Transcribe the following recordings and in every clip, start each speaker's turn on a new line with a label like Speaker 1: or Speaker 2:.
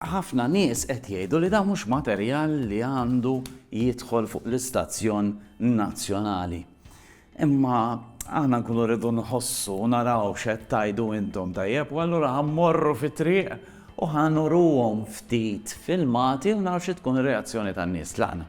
Speaker 1: Ħafna nies qed jgħidu li dan mhux materjal li għandu jidħol fuq l-istazzjon nazzjonali. Imma aħna nkunu rridu nħossu u naraw x'qed tgħidu intom tajjeb u allura ħa mmorru fit-triq u ħa nuruhom ftit filmati u naraw xi tkun ir-reazzjoni tan-nies tlaqna.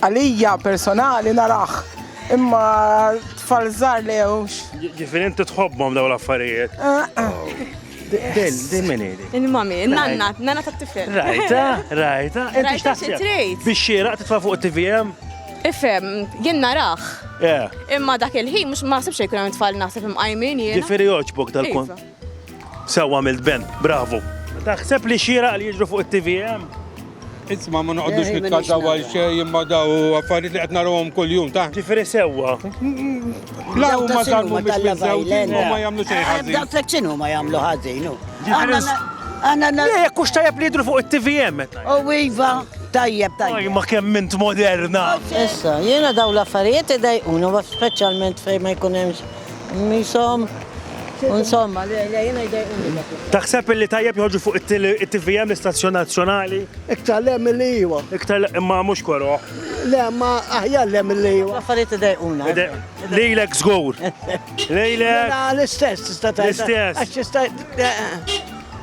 Speaker 1: Għalija personali narah imma tfal żgħar le hux. Ġifieri inti tħobbhom dawn l-affarijiet. Din din min hi? Il-mami, nanna, nanna tat-tifel. Rajta, rajta, inti x'taħseb? Biex xieraq titfa' fuq it-TVM? Ifhem, jien narah. Imma dak il-ħin mhux ma ħsibx jkun hemm tfal naħseb imqajmin jien. Ġifieri jogħġbok dal-kont. Sewwa għamilt Ben, bravu. Taħseb li xieraq li jiġru fuq it-TVM? Isma ma noqgħodux Eh, nitkażaw ma għal nix xejn imma daw affarijiet li qed narahom kuljum ta' Ġifieri sewwa. la Daw ta' huma xinu żammu ma biex tal-Love miżżewġin Island. u ma jagħmlu xejn ħażin. Daw tlek xinu ma jagħmlu ħażin. u. Ġifieri Aħna s- na- Aħna na- Le, jekk hux tajjeb li jidru fuq it-TVM meta. U iva, tajjeb, Aj, tajjeb. ma kemm int moderna. Issa, jiena daw l-affarijiet idejquna, wa speċjalment fejn ma jkun hemmx Misom, insomma, le, le, jena jdejquni dak. Taħseb illi tajjeb joħorġu fuq it-TVM l-istazzjon nazzjonali? Iktar le mill iwa. Iktar imma mhux koro. Le, ma aħjar le mill iwa. Affarijiet idejquna. Lejlek żgur. Lejlek. Mela, l-istess tista' tajjeb. L-istess. Għax tista'